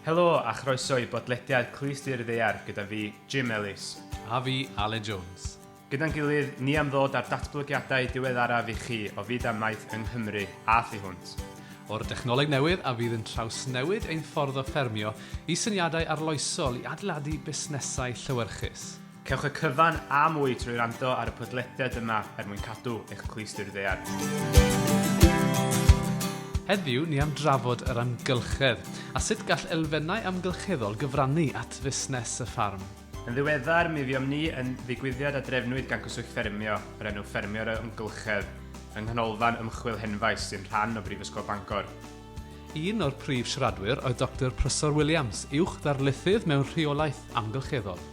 Helo a chroeso i bodlediad Clust i'r Ddaear gyda fi, Jim Ellis. A fi, Aled Jones. Gyda'n gilydd, ni am ddod â'r datblygiadau diweddaraf i chi o fyd amaeth yng Nghymru a thu hwnt. O'r dechnoleg newydd a fydd yn trawsnewid ein ffordd o ffermio i syniadau arloesol i adeiladu busnesau llewyrchus. Cewch y cyfan a mwy trwy rando ar y podlediad yma er mwyn cadw eich clustir ddear. Heddiw, ni am drafod yr amgylchedd a sut gall elfennau amgylcheddol gyfrannu at fusnes y ffarm. Yn ddiweddar, mi fuom ni yn ddigwyddiad a drefnwyd gan Cyswllt Ffermio, yr enw Ffermio yr Amgylchedd, yng Nghanolfan Ymchwil Henfaes sy'n rhan o Brifysgol Bangor. Un o'r prif siaradwyr oedd Doctor Prysor Williams, uwch ddarlithydd mewn rheolaeth amgylcheddol.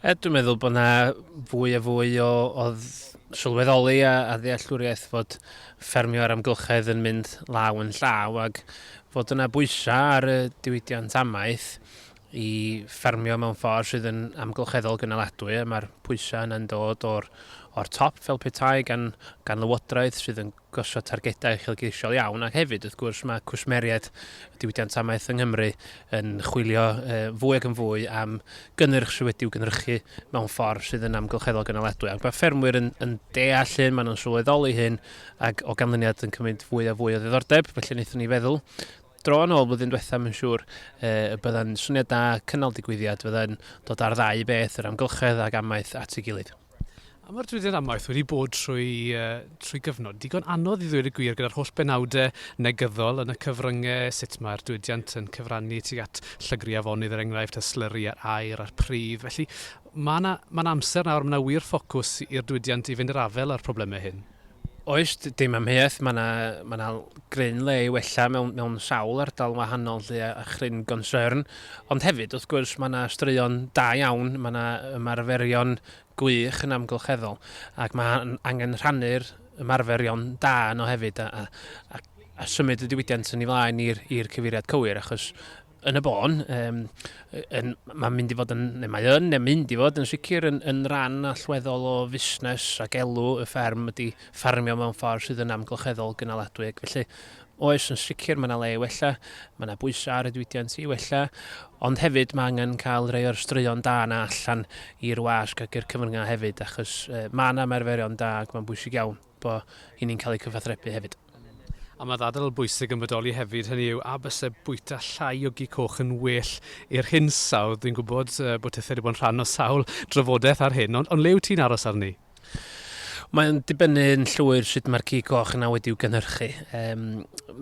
Yy dwi'n meddwl bod yna fwy a fwy o o dd- sylweddoli a a ddealltwriaeth fod ffermio a'r amgylchedd yn mynd law yn llaw ac fod yna bwysa ar y diwydiant amaeth i ffermio mewn ffordd sydd yn amgylcheddol gynaladwy a ma'r pwysa yna'n dod o'r o'r top fel petai gan gan lywodraeth sydd yn gosod targedau uchelgeisiol iawn, ac hefyd, wrth gwrs, mae cwsmeriaid y diwydiant amaeth yng Nghymru yn chwilio fwy ac yn fwy am gynnyrch sydd wedi'w gynhyrchu mewn ffordd sydd yn amgylcheddol gynaledwy. Ac mae ffermwyr yn, yn deall hyn, maen nhw'n sylweddoli hyn, ac o ganlyniad yn cymryd fwy a fwy o ddiddordeb, felly wnaethon ni feddwl dro yn ôl blwyddyn diwethaf, mae'n siŵr, e, y byddai'n syniad da cynnal digwyddiad, fyddai'n dod ar ddau beth, yr amgylchedd ac amaeth at ei gilydd. A mae'r diwydiant amaeth wedi bod trwy, uh, trwy gyfnod digon anodd i ddweud y gwir gyda'r holl benawdau negyddol yn y cyfryngau, sut mae'r diwydiant yn cyfrannu tuag at llygru afonydd er enghraifft, a slyri a'r aer a'r pridd. Felly mae yna, mae yna amser nawr, mae yna wir ffocws i'r diwydiant i fynd i'r afael â'r problemau hyn. Oes, dim amheuaeth, mae yna, mae yna gryn le i wella mewn, mewn sawl ardal yn wahanol lle a, a chryn gonsern. Ond hefyd, wrth gwrs, mae yna straeon da iawn, mae yna ymarferion gwych yn amgylcheddol, ac mae angen rhannu'r ymarferion da yno hefyd a, a, a, a symud y diwydiant yn ei flaen i'r cyfeiriad cywir, achos yn y bôn, um, yn, mae'n mynd i fod yn, neu mae yn, neu mynd i fod yn sicr yn, yn rhan allweddol o fusnes ac elw y fferm ydy ffarmio mewn ffordd sydd yn amgylcheddol gynaladwy. Ac felly, oes yn sicr mae yna le i wella, mae yna bwysau ar y diwydiant i wella, ond hefyd mae angen cael rhai o'r straeon da yna allan i'r wasg ac i'r cyfryngau hefyd, achos uh, mae yna merferion da ac mae'n bwysig iawn. bo i ni'n cael eu cyfathrebu hefyd. A mae ddadl bwysig yn bodoli hefyd, hynny yw, a byse bwyta llai o gi coch yn well i'r hinsawdd? Dwi'n gwybod bod tithe wedi bod yn rhan o sawl drafodaeth ar hyn, ond, ond le wyt ti'n aros arni? Mae'n dibynnu'n llwyr sut mae'r cig coch yna wedi'w gynhyrchu. Um,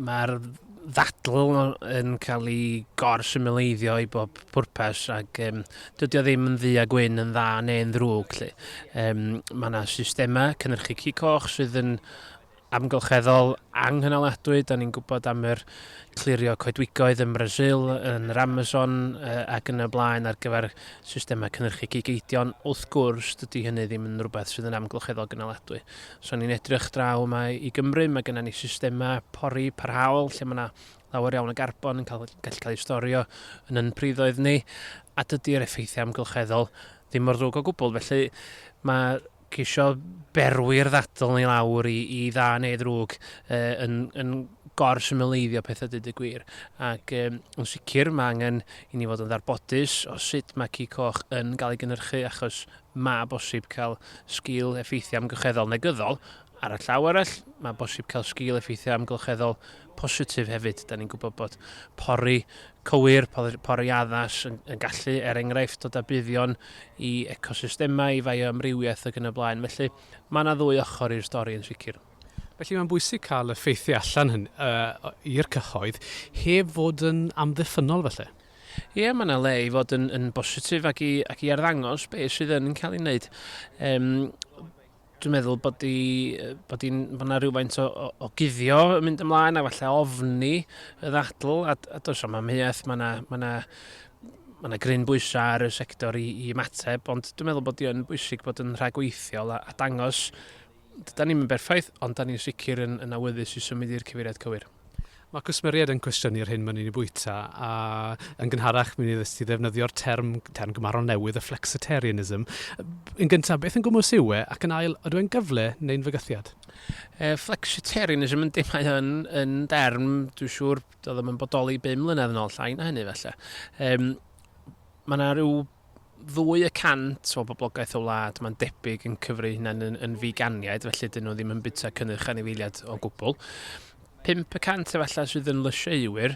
Mae'r ddadl yn cael ei gor-symleiddio i bob pwrpas ac um, dydy o ddim yn ddu a gwyn yn dda neu'n ddrwg. Lle. Um, mae yna systemau cynnyrchu cig coch sydd yn amgylcheddol anghynaliadwy. Da ni'n gwybod am yr clirio coedwigoedd yn Brasil, yn yr Amazon uh, ac yn y blaen ar gyfer systemau cynnyrchu cig eidion. Wrth gwrs, dydy hynny ddim yn rhywbeth sydd yn amgylcheddol gynaliadwy. Os o'n i'n edrych draw yma i Gymru, mae gennym ni systemau pori parhaol lle mae yna lawer iawn o garbon yn cael, gallu cael ei storio yn yn priddoedd ni, a dydy'r effeithiau amgylcheddol ddim mor ddrwg o gwbl. Felly mae ceisio berwi'r ddadl ni lawr i, i dda neu ddrwg e, yn, yn gorsymleiddio pethau dyd y gwir. Ac e, yn sicr mae angen i ni fod yn ddarbodus o sut mae ci coch yn cael ei gynnyrchu achos Mae bosib cael sgil effeithiau amgylcheddol negyddol, ar y llaw arall, mae bosib cael sgil effeithiau amgylcheddol positif hefyd. Da ni'n gwybod bod pori cywir, pori addas yn, yn gallu, er enghraifft, dod â buddion i ecosystemau, i fioamrywiaeth ac yn y blaen. Felly, mae yna ddwy ochr i'r stori yn sicr. Felly mae'n bwysig cael y ffeithiau allan hynny, uh, i'r cyhoedd, heb fod yn amddiffynnol falle? Ie, mae yna le i fod yn, yn bositif ac i, ac i arddangos beth sydd yn cael ei wneud. Um, dwi'n meddwl bod i, bod i'n, bod yna rhywfaint o, o, o guddio yn mynd ymlaen a falle ofni y ddadl a, a does am amheuaeth, mae yna, mae yna mae yna gryn bwysau ar y sector i, i ymateb, ond dwi'n meddwl bod i'n bwysig bod yn rhagweithiol a, a dangos Dydan ni'm yn berffaith, ond 'dan ni'n sicr yn yn awyddus i symud i'r cyfeiriad cywir. Mae cwsmeriaid yn cwestiynu'r hyn mae'n ni'n ei bwyta, a yn gynharach mi wnei ti ddefnyddio'r term, term gymharol newydd, y flexitarianism. Yn gyntaf, beth yn gwmws yw e, ac yn ail, ydw e'n gyfle neu'n fygythiad? E, flexitarianism yn dim mae yn, yn derm, dwi'n siŵr, doedd ddim yn bodoli 5 mlynedd yn ôl, llai na hynny felly. Um, mae yna rhyw ddwy y cant o boblogaeth y wlad, mae'n debyg, yn cyfri eu hunain yn, yn figaniaid, felly dyn nhw ddim yn bwyta cynnyrch anifeiliaid o gwbl. 5 y cant efallai sydd yn lysieuwyr,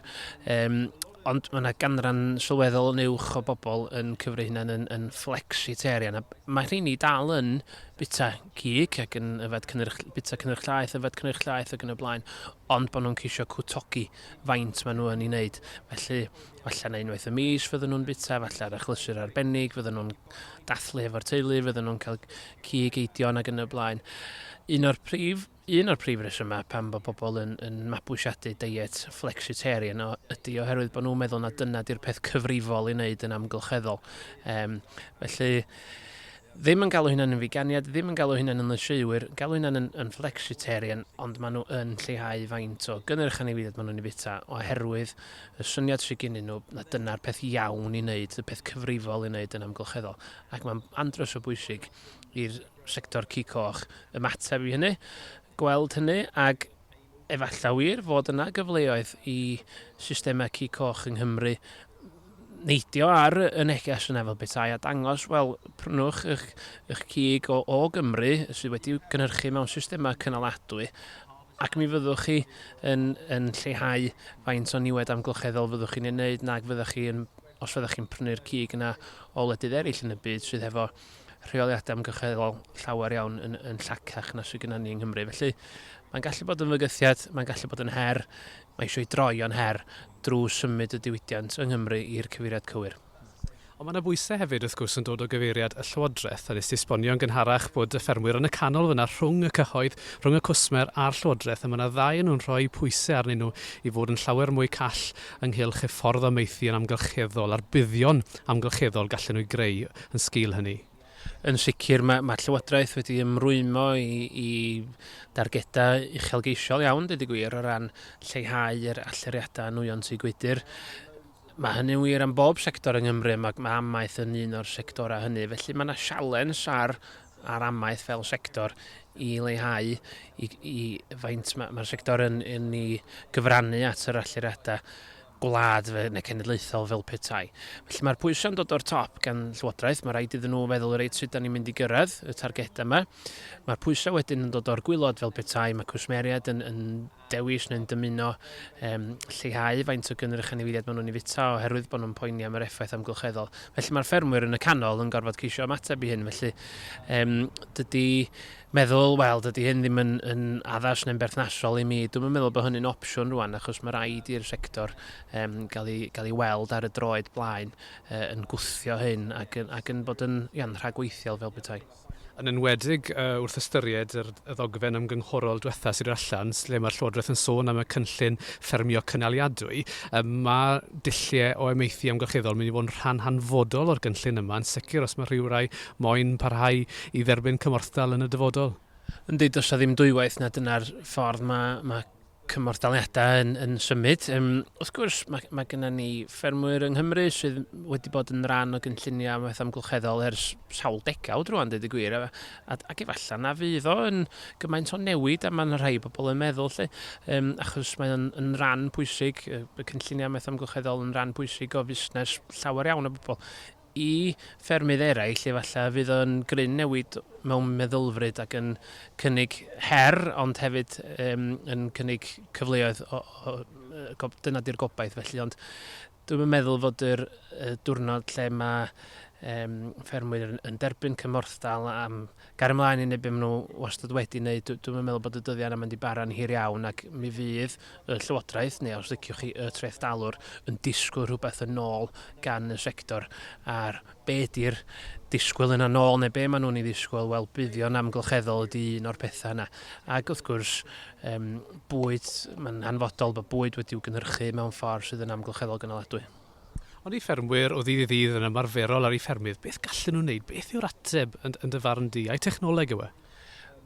um, ond mae yna ganran sylweddol yn uwch o bobl yn cyfri hunain yn, yn flexitarian. Mae rheini dal yn bita cig ac yn yfed cynnyrch, bita cynnyrch llaeth, yfed cynnyrch llaeth ac yn y blaen, ond bod nhw'n ceisio cwtogi faint maen nhw yn ei wneud. Felly, Falle na unwaith y mis fydden nhw'n bita, falle ar achlysur arbennig, fydden nhw'n dathlu hefo'r teulu, fydden nhw'n cael cig eidion ac yn y blaen. Un o'r prif, un o'r prif resymau pan bod pobl yn, yn mabwysiadu diet flexitarian o, ydy oherwydd bod nhw'n meddwl na dyna di'r peth cyfrifol i wneud yn amgylcheddol. Um, felly, ddim yn galw hynna'n yn figaniad, ddim yn galw hynna'n yn lysieuwyr, galw hynna'n yn, yn flexitarian, ond maen nhw yn lleihau faint o gynnyrch anifeiliaid maen nhw'n ei fita, oherwydd y syniad sy gynnyn nhw na dyna'r peth iawn i wneud, y peth cyfrifol i wneud yn amgylcheddol. Ac mae'n andros o bwysig i'r sector cig coch ymateb i hynny, gweld hynny, ac efallai wir fod yna gyfleoedd i systemau cig coch yng Nghymru neidio ar y neges yna fel petai a dangos, wel, prynwch eich, eich cig o, o Gymru sydd wedi gynhyrchu mewn systemau cynaladwy ac mi fyddwch chi yn yn lleihau faint o niwed amgylcheddol fyddwch chi'n ei wneud nag fyddwch chi yn, os fyddwch chi'n prynu'r cig yna o wledydd eraill yn y byd sydd hefo rheoliadau amgylcheddol llawer iawn yn, yn llacach na sydd gennym ni yng Nghymru. Felly, mae'n gallu bod yn fygythiad, mae'n gallu bod yn her, mae eisiau ei droi o'n her drwy symud y diwydiant yng Nghymru i'r cyfeiriad cywir. Ond mae 'na bwysau hefyd wrth gwrs yn dod o gyfeiriad y Llywodraeth, a wnes ti esbonio'n gynharach bod y ffermwyr yn y canol fan'na rhwng y cyhoedd, rhwng y cwsmer a'r Llywodraeth, a mae 'na ddau o nhw'n rhoi pwysau arnyn nhw i fod yn llawer mwy call ynghylch y ffordd o maethu yn amgylcheddol a'r buddion amgylcheddol gallen nhw eu greu yn sgil hynny. Yn sicr, mae, mae Llywodraeth wedi ymrwymo i, i dargedau uchelgeisiol iawn, dweud y gwir, o ran lleihau yr allyriadau nwyon tŷ gwydr. Mae hynny'n wir am bob sector yng Nghymru a mae amaeth yn un o'r sectorau hynny. Felly mae yna sialens ar ar amaeth fel sector i leihau i, i faint mae'r ma sector yn, yn ei gyfrannu at yr allyriadau gwlad fe, neu cenedlaethol fel petai. Felly mae'r pwysau'n dod o'r top gan Llywodraeth, mae rhaid iddyn nhw feddwl reit sut da ni'n mynd i gyrraedd y targedau yma. Mae'r pwysau wedyn yn dod o'r gwylod fel petai, mae cwsmeriaid yn, yn dewis neu'n dymuno um, lleihau faint o gynrych anifeiliaid maen nhw'n ei fita oherwydd bod nhw'n poeni am yr effaith amgylcheddol. Felly mae'r ffermwyr yn y canol yn gorfod ceisio ymateb i hyn, felly um, dydy meddwl, wel, dydy hyn ddim yn, yn addas neu'n berthnasol i mi. Dwi'n meddwl bod hynny'n opsiwn rwan, achos mae rhaid i'r sector um, gael, ei, gael ei weld ar y droed blaen uh, yn gwthio hyn ac, ac yn bod yn iawn, rhagweithiol fel bethau. yn enwedig wrth ystyried yr ddogfen ymgynghorol diwetha' sydd allan, lle mae'r Llywodraeth yn sôn am y cynllun ffermio cynaliadwy. Mae dulliau o amaethu amgylcheddol yn mynd i fod yn rhan hanfodol o'r gynllun yma, yn sicr os mae rhywrai moyn parhau i dderbyn cymorthdal yn y dyfodol. Yndi, does 'na ddim dwywaith na dyna'r ffordd mae cymorthdaliadau yn, yn symud. Um, wrth gwrs, mae, mae gennym ni ffermwyr yng Nghymru sydd wedi bod yn rhan o gynlluniau maeth amgylcheddol ers sawl degawd rwan, dweud y gwir, a, a, ac efallai na fydd o yn gymaint o newid a mae'n rhai pobl yn meddwl, lle, um, achos mae o'n yn rhan pwysig, y cynlluniau maeth amgylcheddol yn rhan pwysig o fusnes llawer iawn o bobl. I ffermydd eraill, efallai, fydd o'n gryn newid mewn meddylfryd ac yn cynnig her, ond hefyd yym yn cynnig cyfleoedd o o yy go- dyna 'di'r gobaith felly, ond dwi'm yn meddwl fod yr yy diwrnod lle mae yym ffermwyr yn yn derbyn cymorthdal am Gario mlaen i wneud be maen nhw wastad wedi wneud. Dw- dwi'm yn meddwl bod y dyddiau yna yn mynd i bara'n hir iawn ac mi fydd y Llywodraeth, neu os liciwch chi y trethdalwr, yn disgwyl rhywbeth yn ôl gan y sector. A'r be ydy'r disgwyl yna yn ôl, neu be maen nhw'n ei ddisgwyl, wel buddion amgylcheddol ydy un o'r pethau yna. Ac wrth gwrs, yym, bwyd, mae'n hanfodol bod bwyd wedi'w gynhyrchu mewn ffordd sydd yn amgylcheddol gynaladwy. Ond i ffermwyr o ddydd i ddydd yn ymarferol ar eu ffermydd, beth gallen nhw wneud? Beth yw'r ateb, yn yn dy farn di? Ai technoleg yw e?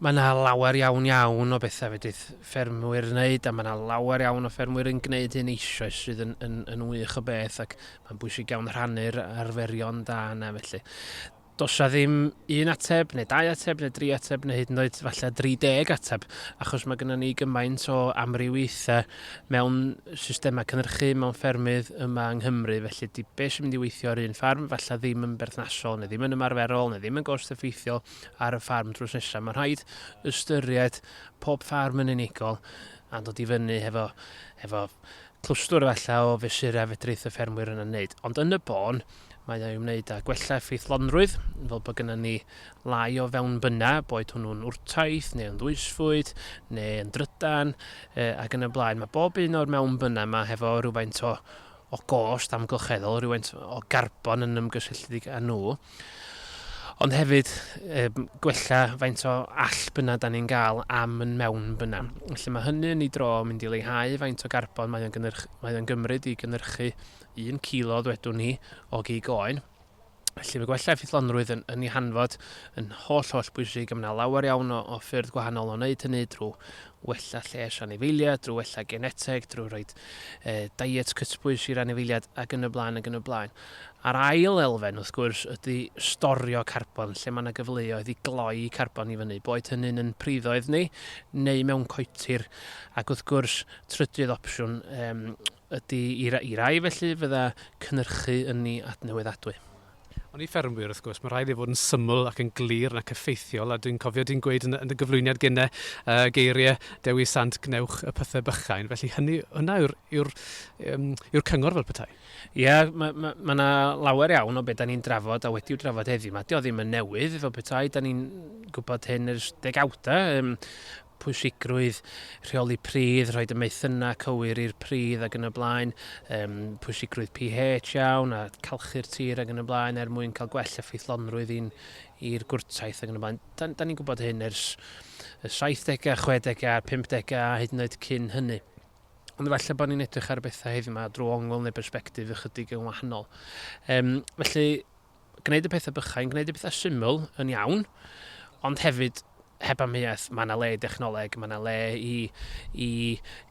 Mae 'na lawer iawn iawn o betha' fedrith ffermwyr wneud a ma' 'na lawer iawn o ffermwyr yn gneud hyn eisoes sydd yn yn yn wych o beth ac ma'n bwysig iawn rhannu'r arferion da yna felly. Does 'na ddim un ateb, neu dau ateb, neu dri ateb, neu hyd yn oed falle 30 ateb, achos mae gennym ni gymaint o amrywiaethau mewn systemau cynhyrchu, mewn ffermydd yma yng Nghymru, felly di beth sy'n mynd i weithio ar un ffarm, falle ddim yn berthnasol, neu ddim yn ymarferol, neu ddim yn gost effeithiol ar y ffarm drws nesaf. Mae'n rhaid ystyried pob ffarm yn unigol a dod i fyny hefo, hefo clwstwr efallai o fesurau fedrith y ffermwyr yna wneud. Ond yn y bôn, Mae ei wneud â gwella effeithlonrwydd, fel bod gennym ni lai o fewnbyna, boed hwnnw'n wrtaith neu yn ddwysfwyd neu yn drydan e, ac yn y blaen. Mae bob un o'r mewnbyna yma hefo rhywfaint o, o gost amgylcheddol, rhywfaint o garbon yn ymgysylltiedig â nhw ond hefyd e, gwella faint o all byna da ni'n gael am yn mewn byna. Felly mae hynny yn ei dro mynd i leihau faint o garbon mae'n gynyrch, mae gymryd i gynhyrchu un cilo ddwedwn ni o gig oen. Felly mae gwella effeithlonrwydd yn, yn ei hanfod yn holl holl bwysig a mae yna lawer iawn o, o ffyrdd gwahanol o wneud hynny drwy wella lles anifeiliad, drwy wella geneteg, drwy rhoi e, diet cytbwys i'r anifeiliad ac yn y blaen ac yn y blaen. A'r ail elfen wrth gwrs ydy storio carbon lle mae yna gyfleoedd i gloi carbon i fyny, boed hynny'n yn priddoedd ni neu mewn coetir ac wrth gwrs trydydd opsiwn um, ydy i rai felly fydda cynyrchu ynni adnewyddadwy. Ond i ffermwyr wrth gwrs, mae'n rhaid iddo fod yn syml ac yn glir nac effeithiol, a dwi'n cofio di'n gweud yn dy gyflwyniad gene y geiriau Dewi Sant gwnewch y pythau bychain, felly hynny, hwnna yw'r yw'r yw'r cyngor fel petai. Ie, mae ma, ma yna lawer iawn o beth da ni'n drafod a wedi'w drafod heddiw, mae o ddim yn newydd fel petai, da ni'n gwybod hyn ers degawdau, um, pwysigrwydd rheoli pridd, rhoi dymaethynau cywir i'r pridd ac yn y blaen, um, pwysigrwydd pH iawn a calchu'r tir ac yn y blaen er mwyn cael gwell effeithlonrwydd i'n i'r gwrtaith ac yn y blaen. Da, da ni'n gwybod hyn ers y 70au, 60au, 50au a hyd yn oed cyn hynny. Ond efallai bod ni'n edrych ar bethau heddiw yma drwy ongl neu berspektif ychydig yn wahanol. Um, felly, gwneud y pethau bychain, gwneud y pethau syml yn iawn, ond hefyd heb amheuaeth, mae yna le i dechnoleg, mae yna le i, i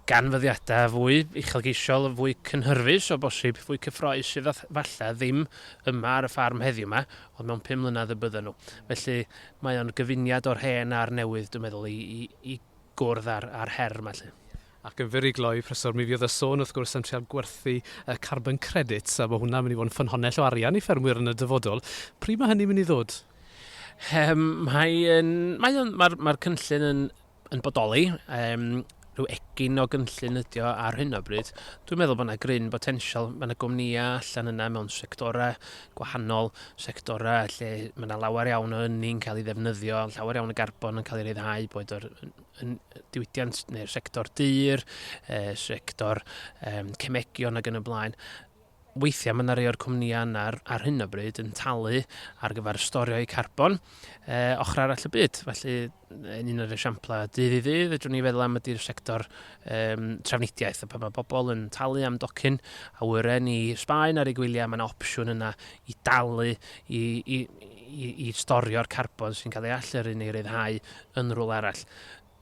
ganfyddiadau fwy uchelgeisiol, fwy cynhyrfus o bosib, fwy cyffroes sydd falle ddim yma ar y ffarm heddiw yma, ond mewn pum mlynedd y bydden nhw. Felly mae o'n gyfuniad o'r hen a'r newydd, dwi'n meddwl, i, i, i gwrdd ar, ar her yma. Lle. Ac yn fur i gloi, Professor, mi fuodd y sôn wrth gwrs am trial gwerthu y carbon credits, a ma' hwnna'n mynd i fod yn ffynhonnell o arian i ffermwyr yn y dyfodol. Pryd mae hynny'n mynd i ddod? Yym, mae yn, mae o'n, mae'r mae cynllun yn, yn bodoli. Um, rhyw egin o gynllun ydi o ar hyn o bryd. Dwi'n meddwl bod yna gryn botensial, mae yna gwmnïau allan yna mewn sectorau gwahanol, sectorau lle mae yna lawer iawn o ynni'n cael ei ddefnyddio, llawer iawn o garbon yn cael ei ryddhau, boed o'r yn diwydiant neu'r sector dyr, e, sector e, cemegion ac yn y blaen, weithiau mae yna rei o'r cwmnïau yna ar, ar hyn o bryd yn talu ar gyfer storio'u carbon e, ochr arall y byd. Felly, yn un o'r esiamplau dydd i ddydd, ydw'n ni feddwl am ydy'r sector e, trafnidiaeth, a pan mae pobl yn talu am docyn awyren i Sbaen ar ei gwyliau, mae yna opsiwn yna i dalu i, i, i, i storio'r carbon sy'n cael ei allyrru neu ryddhau yn rhywle arall.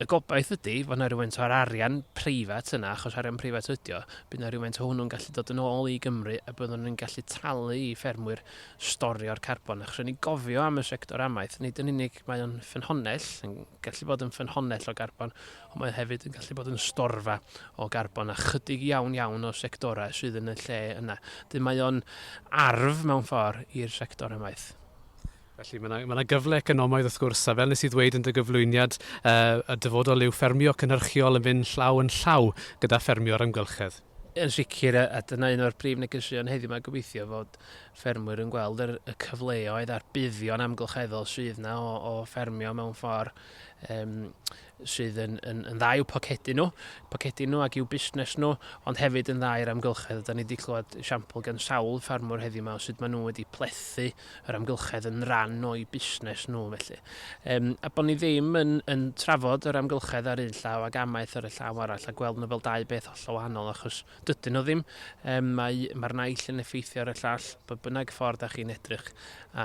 Y gobaith ydy fod yna rhywfaint o'r arian preifat yna, achos arian preifat ydy o, bydd yna rhywfaint o hwnnw'n gallu dod yn ôl i Gymru a byddwn ni'n gallu talu i ffermwyr storio'r carbon. Achos rydyn ni gofio am y sector amaeth, nid yn unig mae o'n ffynhonnell, yn gallu bod yn ffynhonnell o garbon, ond mae o hefyd yn gallu bod yn storfa o garbon a chydig iawn iawn o sectorau sydd yn y lle yna. Dyn mae o'n arf mewn ffordd i'r sector ymaith. Felly mae yna, mae yna gyfle economaidd wrth gwrs, a fel nes i ddweud yn dy gyflwyniad, uh, y dyfodol yw ffermio cynhyrchiol yn fynd llaw yn llaw gyda ffermio ar amgylchedd. Yn sicr, a dyna un o'r brif negeseuon heddiw mae gobeithio fod ffermwyr yn gweld yr, y cyfleoedd a'r buddion amgylcheddol sydd yna o, o ffermio mewn ffordd um, sydd yn yn yn dda i'w pocedi nhw, pocedi nhw ac i'w busnes nhw, ond hefyd yn dda i'r amgylchedd. A 'dan ni 'di clywed esiampl gan sawl ffermwr heddiw 'ma o sut maen nhw wedi plethu yr amgylchedd yn ran o'u busnes nhw felly. Yym a bod ni ddim yn yn trafod yr amgylchedd ar un llaw ac amaeth ar y llaw arall a gweld nhw fel dau beth hollol wahanol achos Dydyn nhw ddim. Um, mae, mae'r naill yn effeithio ar y llall, bod bynnag ffordd da chi'n edrych.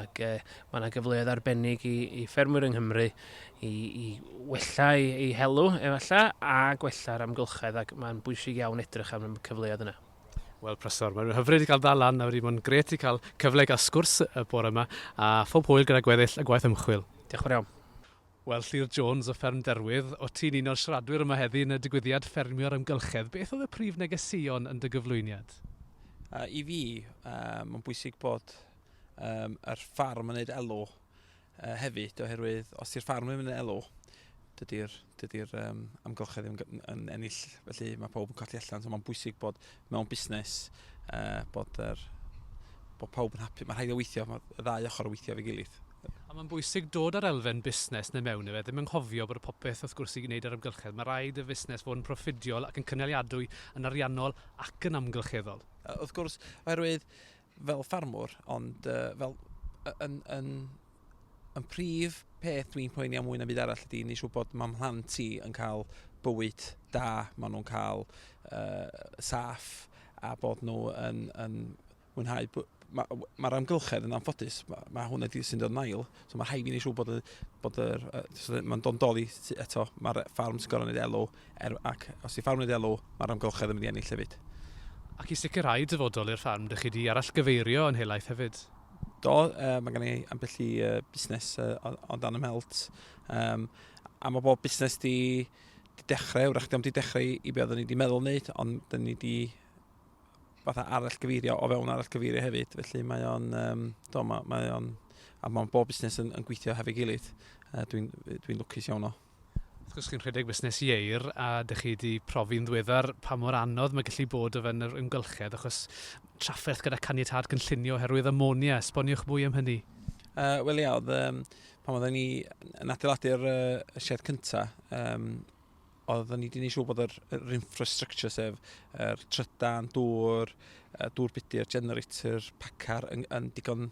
Ac uh, mae yna gyfleoedd arbennig i, i ffermwyr yng Nghymru i, i wella ei, ei helw, efallai, a gwella'r amgylchedd, ac mae'n bwysig iawn edrych am y cyfleoedd yna. Wel, Presor, mae'n hyfryd i gael dal lan nawr i mwyn gret i cael cyfle i gael sgwrs y bore yma, a phob hwyl gyda gweddill y gwaith ymchwil. Diolch yn iawn. Wel, Llyr Jones o Fferm Derwydd, o't ti'n un o'r siaradwyr yma heddi yn y digwyddiad Ffermio a'r Amgylchedd. Beth oedd y prif negeseuon yn dy gyflwyniad? I fi, mae'n bwysig bod yr ffarm yn gwneud elw hefyd, oherwydd os di'r ffarm ddim yn gwneud elw, dydy'r dydy amgylchedd ddim yn ennill, felly mae pawb yn colli allan, so mae'n bwysig bod mewn busnes, uh, bod, er, bod pawb yn hapus. Mae rhaid o weithio, mae y ddau ochr o weithio fe gilydd. A mae'n bwysig dod â'r elfen busnes neu mewn efe, ddim yn nghofio bod y popeth wrth gwrs i wneud ar amgylchedd. Mae rhaid y fusnes fod yn proffidiol ac yn cynaliadwy yn ariannol ac yn amgylcheddol. Wrth gwrs, oherwydd fel ffarmwr, ond uh, fel yn, yn, yn prif peth dwi'n poeni am mwy na byd arall ydy nes bod mae mhlant i yn cael bywyd da, maen nhw'n cael uh, saff a bod nhw yn, yn mwynhau mae'r ma amgylchedd yn anffodus, mae, ma hwn ydy sy'n dod nail, so mae rhaid i ni siw bod, y, bod yr, uh, so mae'n dod yn doli eto, mae'r ffarm sy'n gorau wneud elw, Er, ac os yw ffarmwr yn ddialw, mae'r amgylchedd yn mynd i ennill hefyd. Ac i sicrhau dyfodol i'r ffarm, dych chi 'di arallgyfeirio yn helaeth hefyd? Do, yy mae gen i ambell i yy busnes yy o o dan 'y mhelt yym a ma' bob busnes 'di 'di dechre, 'w'rach 'di o'm 'di dechre i i be' oedden ni 'di meddwl wneud ond 'dyn ni 'di fatha arallgyfeirio o fewn arallgyfeirio hefyd felly mae o'n yym do ma' mae o'n a ma' bob busnes yn yn gweithio hefo'i gilydd yy dwi'n dwi'n lwcus iawn o Wrth gwrs chi'n rhedeg busnes ieir a dych chi wedi profi'n ddiweddar pa mor anodd mae gallu bod o fewn yr amgylchedd achos trafferth gyda caniatâd cynllunio oherwydd amonia. Esboniwch mwy am hynny. Uh, Wel ia, oedd, um, pan oedden ni yn adeiladu'r uh, sied cyntaf, um, oedden ni wedi gwneud siŵr bod yr, yr infrastructure sef yr er trydan, dŵr, dŵr budur, generator, pacar yn, yn digon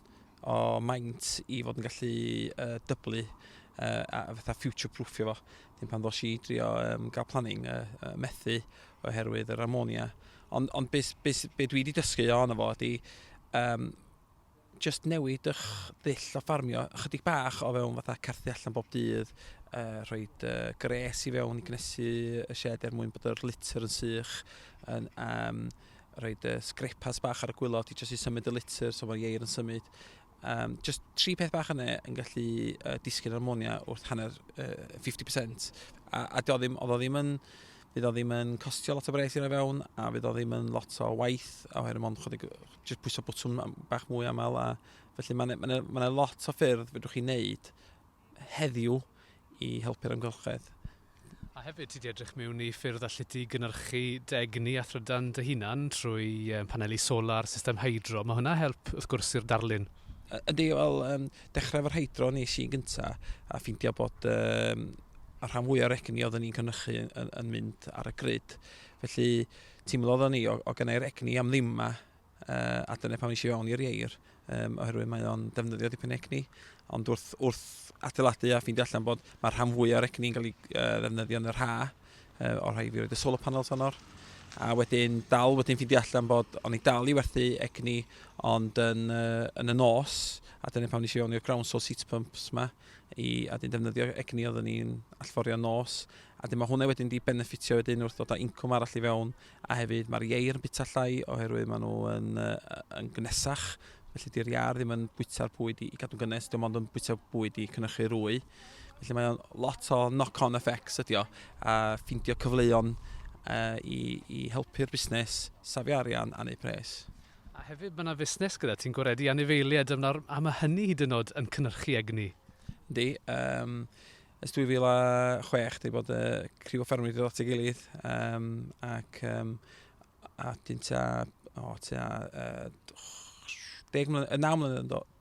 o maint i fod yn gallu uh, dyblu uh, a fatha future proofio fo. Dim pan ddos i drio um, gael planning uh, uh, methu oherwydd yr ammonia. Ond on be, be, be dwi wedi dysgu o'n efo ydy um, just newid ych ddull o ffarmio ychydig bach o fewn fatha carthu allan bob dydd, uh, rhoi uh, gres i fewn i gnesu y shed er mwyn bod yr litter yn sych, yn, um, Rhoid y sgrepas bach ar y gwylod i jyst i symud y litr, so mae'r ieir yn symud. Um, just tri peth bach yna yn gallu uh, disgyn armonia wrth hanner uh, 50%. A, a do ddim, oedd o ddim yn fydd o ddim yn costio lot o bres i roi fewn a fydd o ddim yn lot o waith a oherwydd mond chodig jyst pwyso bwtwn bach mwy aml a felly mae'n ma ma, ma, ma lot o ffyrdd fedrwch chi wneud heddiw i helpu'r amgylchedd. A hefyd, ti 'di edrych mewn i ffyrdd allet ti gynhyrchu dy egni a thrydan dy hunan trwy paneli solar, system hydro. Mae hwnna help, wrth gwrs, i'r darlun. Ydy, wel, dechrau efo'r hydro nes i'n gynta, a ffeindio bod um, y rhan fwy o'r egni oeddwn ni'n cynnychu yn, yn, yn mynd ar y grid. Felly, teimlo oeddwn ni, o, o gynnau'r egni am ddim yma, uh, a dyna pan eisiau fewn i'r ieir, um, oherwydd mae o'n defnyddio dipyn egni, ond wrth, wrth adeiladu a ffeindio allan bod mae'r rhan fwy o'r egni yn cael ei uh, ddefnyddio yn yr ha, uh, o'r rhai fi roed y solar panels honno, a wedyn dal wedyn ffeindio allan bod o'n i dal i werthu egni ond yn, uh, yn y nos a dyna pan eisiau fewn i'r ground source heat pumps yma i, a dyn defnyddio egni oeddwn ni'n allforio nos a dyn mae hwnna wedyn di benefitio wedyn wrth ddod â incwm arall i fewn A hefyd mae'r ieir yn bita llai oherwydd maen nhw yn, uh, yn gnesach, felly di'r iar ddim yn bwyta'r bwyd i, i gadw'n gynnes, dim ond yn bwyta bwyd i cynnychu rwy. Felly mae o'n lot o knock-on effects ydi o, a ffindio cyfleon uh, i, i helpu'r busnes, safio arian a neu pres. A hefyd mae yna fusnes gyda ti'n gwaredu anifeiliaid am, am hynny hyd yn oed yn cynnyrchu egni. Yndi, um, Ers 2006 dwi bod y criw o ffermwyr dod at ei gilydd um, ac um, a dyn ta, o, ta, uh, 10 mlynedd, 9 mlynedd yn dod,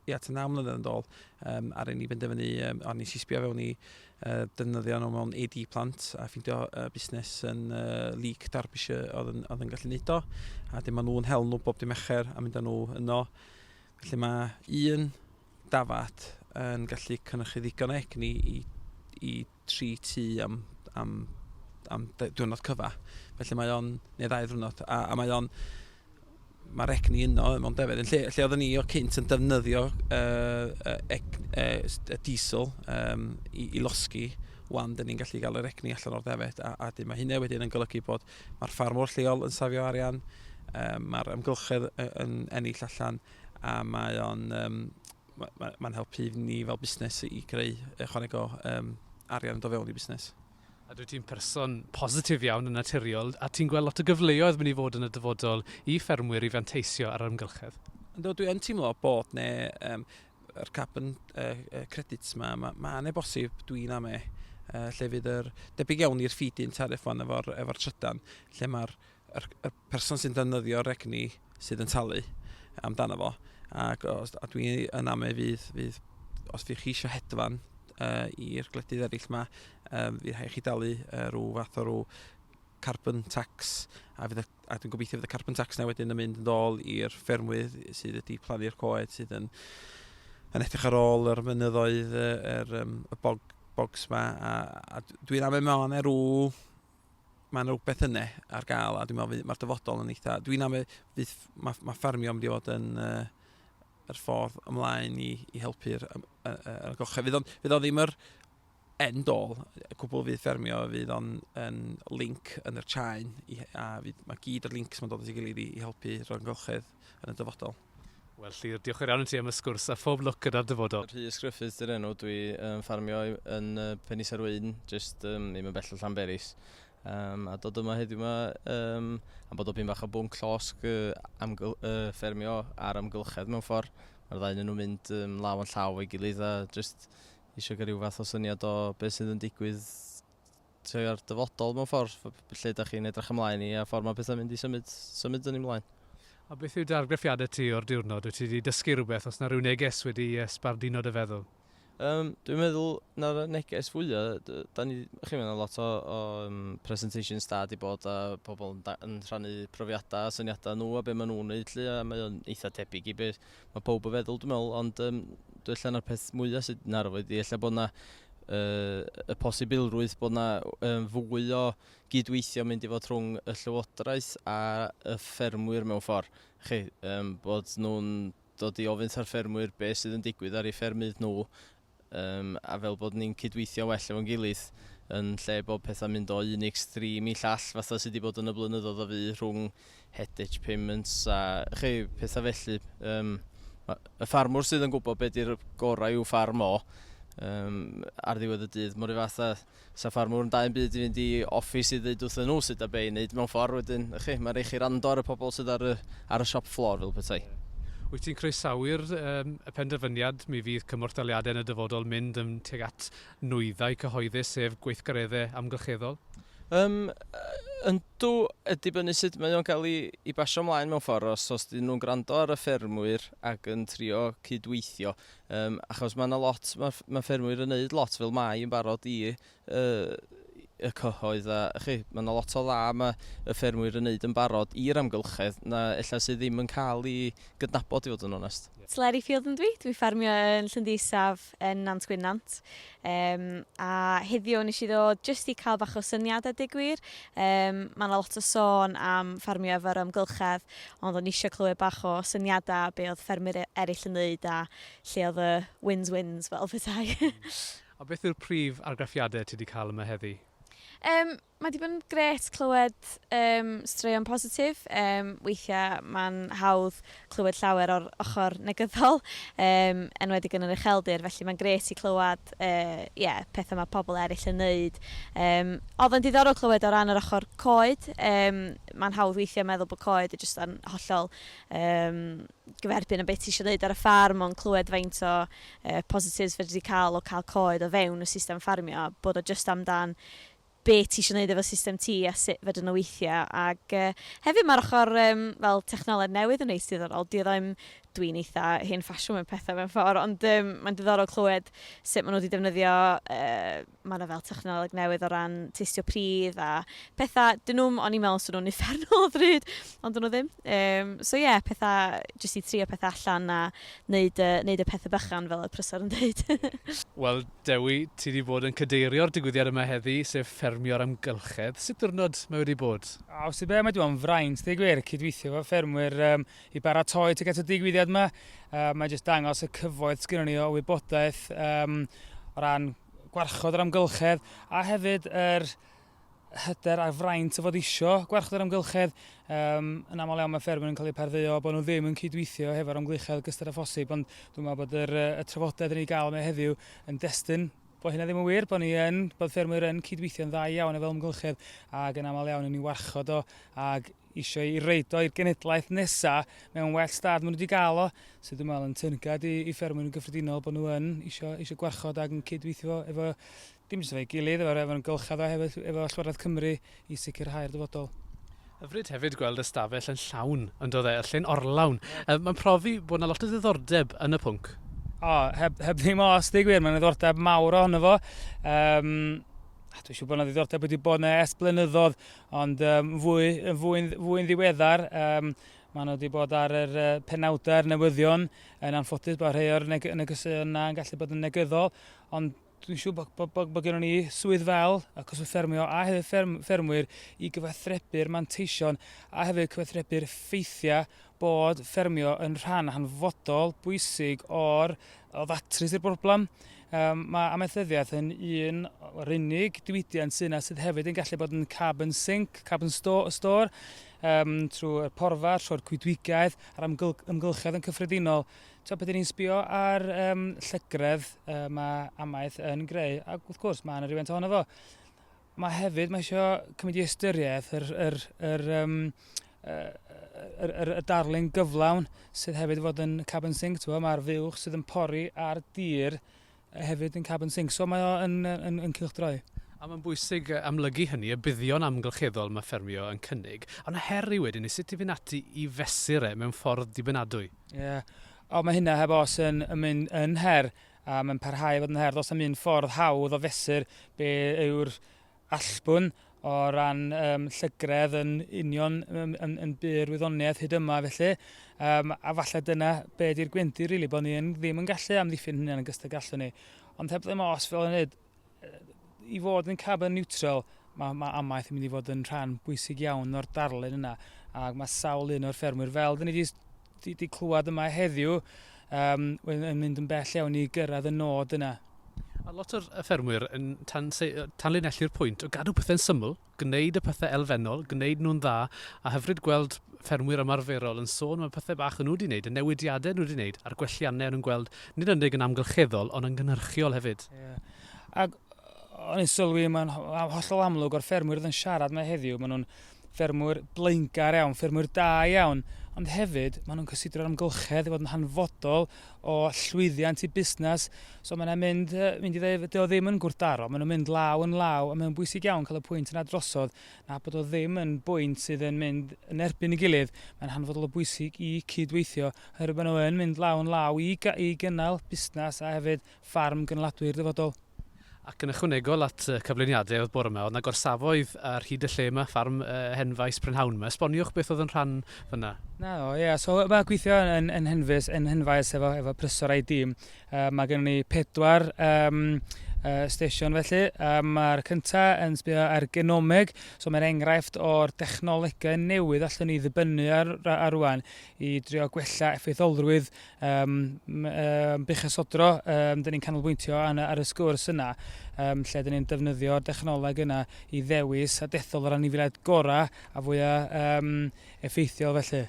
ia, ta 9 mlynedd yn dod, um, ar ein i benderfynu, um, a nes i sbio fewn i uh, defnyddio nhw mewn AD plant a ffindio uh, busnes yn uh, Leek Derbyshire oedd yn, oedd yn gallu neud o, a dim ond nhw'n hel nhw bob dim echer a mynd â nhw yno. Felly mae un dafad yn gallu cynychu ddigon o egni i, i tri tu am, am, am diwrnod cyfa. Felly mae o'n, neu ddau ddwrnod, a, a mae o'n, mae'r egni yno mewn defedd. Lle, lle oedden ni o cynt yn defnyddio uh, uh, uh, diesel um, i, i losgi, wan dyn ni'n gallu cael yr egni allan o'r defed a, a dyn mae hynny wedyn yn golygu bod mae'r ffarmwr lleol yn safio arian, um, mae'r ymgylchedd yn ennill allan a mae o'n um, mae'n ma, ma helpu ni fel busnes i greu ychwaneg o um, arian do fewn i busnes. A dwi ti'n person positif iawn yn naturiol, a ti'n gweld lot o gyfleoedd mynd i fod yn y dyfodol i ffermwyr i fanteisio ar ymgylchedd? Ynddo, dwi'n teimlo bod ne, um, yr carbon uh, credit ma, ma, ma ne bosib, dwi'n am e, uh, lle fydd yr, debyg iawn i'r ffidyn tarif fan efo'r efo trydan, lle mae'r yr, yr person sy'n defnyddio'r egni sydd yn talu amdano fo. Ac os, a dwi yn amau fydd, fydd os fydd chi eisiau hedfan uh, i'r gwledydd eraill yma, um, fydd rhaid chi dalu uh, rhyw fath o rhyw carbon tax a, fydd, a dwi'n gobeithio fydd y carbon tax na wedyn yn mynd yn ôl i'r ffermwydd sydd wedi plannu'r coed sydd yn, yn edrych ar ôl yr mynyddoedd, yr, um, y bog, bogs yma a, a dwi'n amau mewn erw mae yna rhywbeth yna ar gael a dwi'n meddwl fydd, mae'r dyfodol yn eitha... Dwi'n am fydd, mae, mae ffermio yn mynd i fod yn uh, yr ffordd ymlaen i, i helpu'r um, uh, uh, gochau. Fydd, on, fydd o ddim yr end all, y cwbl fydd ffermio, fydd o'n yn link yn yr chain, i, a fydd, mae gyd o'r links mae'n dod at ei gilydd i, i helpu rhagolchedd yn y dyfodol. Wel Llŷr, diolch yn fawr iawn i ti am y sgwrs a phob lwc gyda'r dyfodol. Rhys Gruffydd di'r enw, dwi yn ffarmio yn uh, Penis ar Wyn, jyst um, ddim yn bell o Llanberis. Um, a dod yma heddiw yma um, am bod o pyn bach o bwnc llosg uh, amgyl, uh, ffermio ar amgylchedd mewn ffordd. Mae'r ddau yn nhw mynd um, law yn llaw o'i gilydd a jyst eisiau cael rhyw fath o syniad o beth sydd yn digwydd tuag at dyfodol mewn ffordd, lle da chi'n edrych ymlaen i a ffordd mae pethau'n mynd i symud, symud yn ei mlaen. A beth yw dargraffiadau ti o'r diwrnod? Wyt ti wedi dysgu rhywbeth? Os na rhyw neges wedi sbarduno dy feddwl? Um, dwi'n meddwl na'r neges fwya, da ni, chi meddwl lot o, o um, presentations da di bod a pobl yn, da, yn rhannu profiadau a syniadau nhw a beth maen nhw'n neud lli a mae o'n eitha tebyg i beth Mae pawb yn feddwl, dwi'n meddwl, ond um, dwi'n allan na'r peth mwyaf sydd yn arwydd ydy, allan bod yna uh, y posibilrwydd bod yna um, fwy o gydweithio mynd i fod rhwng y llywodraeth a y ffermwyr mewn ffordd. Chi, um, bod nhw'n dod i ofyn ar ffermwyr beth sydd yn digwydd ar ei ffermydd nhw Yym, a fel bod ni'n cydweithio well efo'n gilydd, yn lle bod pethau'n mynd o un extreme i llall fatha sydd wedi bod yn y blynyddoedd o fu rhwng headage payments a chi, pethau felly. Yym, y ffarmwr sydd yn gwybod beth di'r gorau i'w ffarm o, um, ar ddiwedd y dydd, mor un fath Sa ffarmwr yn da un byd i fynd i office i ddeud wrthyn nhw sut da be'i neud mewn ffordd wedyn, y'ch chi, mae'n rhaid chi rando ar y pobl sydd ar y ar y shop floor fel petai. Wyt ti'n croesawu'r yym y penderfyniad mi fydd cymorth daliadau yn y dyfodol mynd yn tuag at nwyddau cyhoeddus sef gweithgaredde amgylcheddol? Yym yndw, yn dibynnu sut mae o'n cael i i basio mlaen mewn ffordd os os 'dyn nhw'n gwrando ar y ffermwyr ac yn trio cyd-weithio Yym achos ma' 'na lot ma' ff- ma' ffermwyr yn neud lot fel mai yn barod i yy y cyhoedd a chi ma' 'na lot o dda ma' y ffermwyr yn neud yn barod i'r amgylchedd na ella sydd ddim yn ca'l 'i gydnabod i fod yn onest. Sleri Field ydw i, dwi ffermio yn Llyn Ddi Isaf yn Nant Gwynant. Yym, a heddiw wnes i ddod jyst i cael bach o syniad a deg gwir. Yym, mae yna lot o sôn am ffarmio efo'r amgylchedd, ond o'n i eisiau clywed bach o syniadau be oedd ffermwyr e- eraill yn ddeud a lle oedd y wins wins fel petai. A beth yw'r prif argraffiadau ti wedi cael yma heddi? Yym, Mae wedi bod yn gret clywed um, straeon positif. Um, weithiau mae'n hawdd clywed llawer o'r ochr negyddol, um, enwedig yn yr ucheldir, felly mae'n gret i clywed uh, yeah, pethau mae pobl eraill yn neud. Um, oedd yn diddorol clywed o ran yr ochr coed. Um, mae'n hawdd weithiau meddwl bod coed yn jyst yn hollol um, gyferbyn o beth ti eisiau gwneud ar y ffarm, ond clywed faint o uh, positives fe wedi cael o cael coed o fewn y system ffarmio, bod o jyst amdan be ti isio neud efo system ti a sut fedrwn nhw weithio ac yy hefyd mae'r ochr yym fel technoleg newydd yn reit diddorol dwi ddim dwi'n eitha hen ffasiwn mewn pethau mewn ffordd ond yym mae'n diddorol clywed sut maen nhw wedi defnyddio yy mae yna fel technoleg newydd o ran testio pridd a pethau dyn nhw'm o'n i'n meddwl swn nhw'n uffernol o ddrud ond dyn nhw ddim yym so ie yeah, pethau jyst i trio pethau allan a neud y neud y pethau bychan fel oedd Prysor yn deud. Wel Dewi, ti 'di bod yn cadeirio'r digwyddiad yma heddi, sef Ffermio'r Amgylchedd. Sut ddiwrnod mae wedi bod? O, os ti be, mae 'di bod yn fraint, deu gwir, cydweithio efo ffermwyr um, i baratoi tuag at y digwyddiad yma. Uh, mae jyst dangos y cyfoeth sgynnon ni o wybodaeth um, o ran gwarchod yr amgylchedd a hefyd yr er hyder a fraint o fod isio gwarchod yr amgylchedd. Um, yn aml iawn mae ffermwyr yn cael eu pardduo bod nhw ddim yn cydweithio hefo'r amgylchedd gystal â phosib, ond dwi'n meddwl bod yr, y trafodaeth yn ei gael yma heddiw yn destyn bod hynna ddim yn wir, bod ni yn, bod ffermwyr yn cydweithio'n dda iawn efo amgylchedd ac yn aml iawn yn ei warchod o ac eisiau ei reid o i'r genedlaeth nesaf mewn well stad maen nhw wedi cael o, sydd dwi'n meddwl yn tyngad i, i ffermwyr yn gyffredinol bod nhw yn eisiau, eisiau gwarchod ac yn cydweithio efo Dim jyst efo'i gilydd, efo'r efo'r amgylchedd a hefyd efo Llywodraeth Cymru i sicrhau'r dyfodol. Hyfryd hefyd gweld y stafell yn llawn, yn do dde, y llyn orlawn. Yy mae'n profi bod 'na lot o ddiddordeb yn y pwnc. O, heb heb ddim o, os dweud gwir, mae'n ddiddordeb mawr ohono fo. Um, a dwi'n siŵr bod yna ddiddordeb wedi bod yna es blynyddoedd, ond um, fwy, fwy, fwy ddiweddar, um, Maen nhw wedi bod ar yr uh, penawdau'r newyddion yn anffodus bod rhai o'r neg negeseuon yna yn gallu bod yn negyddol, ond Dwi'n siŵr bod, bod, bod, bod gennym ni swydd fel y cwswm ffermio a hefyd fferm, ffermwyr i gyfathrebu'r manteision a hefyd cyfathrebu'r ffeithiau bod ffermio yn rhan hanfodol bwysig o'r o ddatrys i'r broblem. Um, mae amaethyddiaeth yn un o'r unig diwydiant sy'n yna sydd hefyd yn gallu bod yn carbon sink, carbon store, store um, trwy'r porfa, trwy'r coedwigaeth a'r ymgylchedd yn cyffredinol. Tibod, pan 'dyn ni'n sbio ar um, llygredd uh, mae amaeth yn greu, ac wrth gwrs mae yna rhywbeth ohono fo. Mae hefyd, mae eisiau cymryd i ystyriaeth yr, yr, yr, um, yr, yr, yr, y darlun gyflawn sydd hefyd fod yn carbon sink, mae'r fuwch sydd yn pori ar dir hefyd yn carbon sink, so mae o yn, yn, yn cylchdroi. A mae'n bwysig amlygu hynny, y buddion amgylcheddol mae ffermio yn cynnig, ond y her yw wedyn i sut i fynd ati i fesur e mewn ffordd dibynadwy. Ie, yeah. o mae hynna heb os yn, yn mynd yn her, a mae'n parhau fod yn her. Does am un ffordd hawdd o fesur be yw'r allbwn o ran yym llygredd yn union yn, yn, yn byr wyddoniaeth hyd yma felly. Um, a falle dyna be di'r gwendid rili, really, bod ni yn, ddim yn gallu amddiffyn hynny yn gystod gallu ni. Ond heb ddim os fel yn hyd, i fod yn carbon neutral, mae ma amaeth yn mynd i fod yn rhan bwysig iawn o'r darlun yna. Ac mae sawl un o'r ffermwyr, fel dyn ni wedi Dwi wedi clywed yma heddiw, um, wedyn yn mynd yn bell iawn i gyrraedd y nod yna. A lot o'r ffermwyr yn tan, tanlinellu'r pwynt o gadw pethau'n syml, gwneud y pethau elfennol, gwneud nhw'n dda, a hyfryd gweld ffermwyr ymarferol yn sôn am y pethau bach nhw wedi wneud, y newidiadau nhw wedi wneud, a'r gwelliannau nhw'n gweld, nid unig yn amgylcheddol, ond yn gynhyrchiol hefyd. Yeah. Ac o'n i'n sylwi, mae'n hollol amlwg o'r ffermwyr oedd yn siarad mae heddiw, maen nhw'n ffermwyr blaengar iawn, ffermwyr da iawn, ond hefyd maen nhw'n cysidro'r amgylchedd i fod yn hanfodol o llwyddiant i busnes. So mae'n mynd, mynd i ddweud, dy o ddim yn gwrthdaro, maen nhw'n mynd law yn law, a mae'n bwysig iawn cael y pwynt yna drosodd na bod o ddim yn bwynt sydd yn mynd yn erbyn y gilydd. Mae'n hanfodol o bwysig i cydweithio, oherwydd maen nhw'n mynd law yn law i, i gynnal busnes a hefyd ffarm gynnaladwy'r dyfodol. Ac yn ychwanegol at y cyflwyniadau oedd bore 'ma, oedd 'na gorsafoedd ar hyd y lle 'ma, ffarm Henfaes Prynhawn 'ma. Esboniwch beth oedd yn rhan fyna. Na, o, ie, yeah. so mae gweithio yn, yn Henfys, yn Henfaes efo, efo prysor a'i dîm. Uh, mae gen ni pedwar um, uh, station felly. Uh, Mae'r cyntaf yn sbio ar genomeg, so mae'n enghraifft o'r dechnolegau newydd allwn ni ddibynnu ar, ar rwan i drio gwella effeitholrwydd um, um, buchasodro, um, dyn ni'n canolbwyntio ar y sgwrs yna, um, lle dyn ni'n defnyddio dechnoleg yna i ddewis a dethol yr anifiliaid gorau a fwyaf um, effeithiol felly.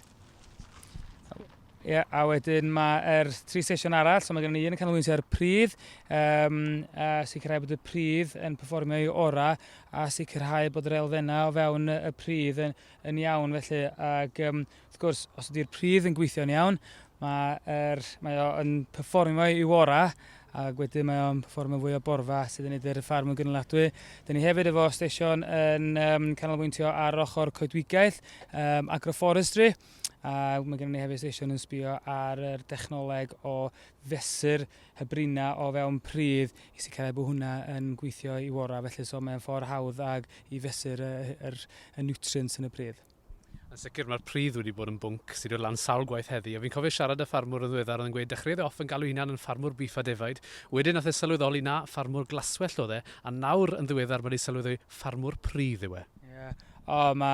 Ie, yeah, a wedyn mae'r er tri sesiwn arall, so mae gen i un yn canolbwyntio ar y pridd, um, a sicrhau bod y pridd yn performio i ora, a sicrhau bod yr elfennau o fewn y pridd yn, yn iawn felly, ac um, Wrth gwrs, os ydy'r pridd yn gweithio'n iawn, mae, er, mae o yn performio i wora, a wedyn mae o'n performio fwy o borfa sydd yn edrych y ffarm yn gynaladwy. Dyna ni hefyd efo stesion yn um, canolbwyntio ar ochr coedwigaeth, um, agroforestry, a mae gennym ni hefyd stesion yn sbio ar yr dechnoleg o fesur hybrina o fewn pridd i sicrhau bod hwnna yn gweithio i wora, felly so mae'n ffordd hawdd ag i fesur y, y, y, y nutrients yn y pridd. Yn sicr mae'r pridd wedi bod yn bwnc sydd dod lan sawl gwaith heddi a fi'n cofio siarad â ffarmwr yn ddiweddar oedd yn gweud dechreuodd e off yn galw ei hunan yn ffarmwr bîff a defaid wedyn nath e sylweddoli na ffarmwr glaswellt oedd e a nawr yn ddiweddar mae di sylweddoli ffarmwr pridd yw e. Ie. O ma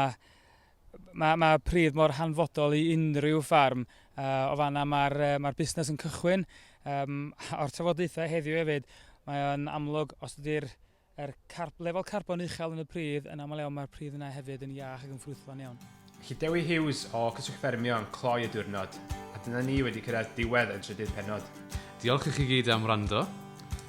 ma ma pridd mor hanfodol i unrhyw ffarm a o fanna ma'r yy ma'r busnes yn cychwyn yym o'r trafodaethau heddiw efyd mae o'n amlwg os ydi'r Er carb, lefel carbon uchel yn y pridd, yn aml iawn mae'r pridd yna hefyd yn iach ac yn ffrwythlon iawn. Felly Dewi Hughes o Cyswllt Ffermio yn cloi y diwrnod. A dyna ni wedi cyrraedd diwedd y trydydd pennod. Diolch i chi gyd am wrando.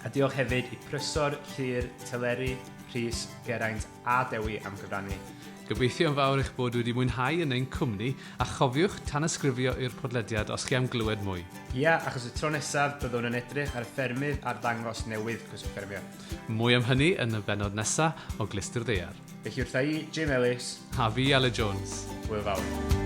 A diolch hefyd i Prysor, Llŷr, Teleri, Rhys, Geraint a Dewi am gyfrannu. Gobeithio yn fawr eich bod wedi mwynhau yn ein cwmni, a chofiwch tanysgrifio i'r podlediad os chi am glywed mwy. Ia, achos y tro nesaf byddwn yn edrych ar y ffermydd ar ddangos newydd Cyswllt Ffermio. Mwy am hynny yn y bennod nesa o Glystyr Ddaear. Felly wrtha i, Jim Ellis. A fi, Aled Jones. Hwyl fawr.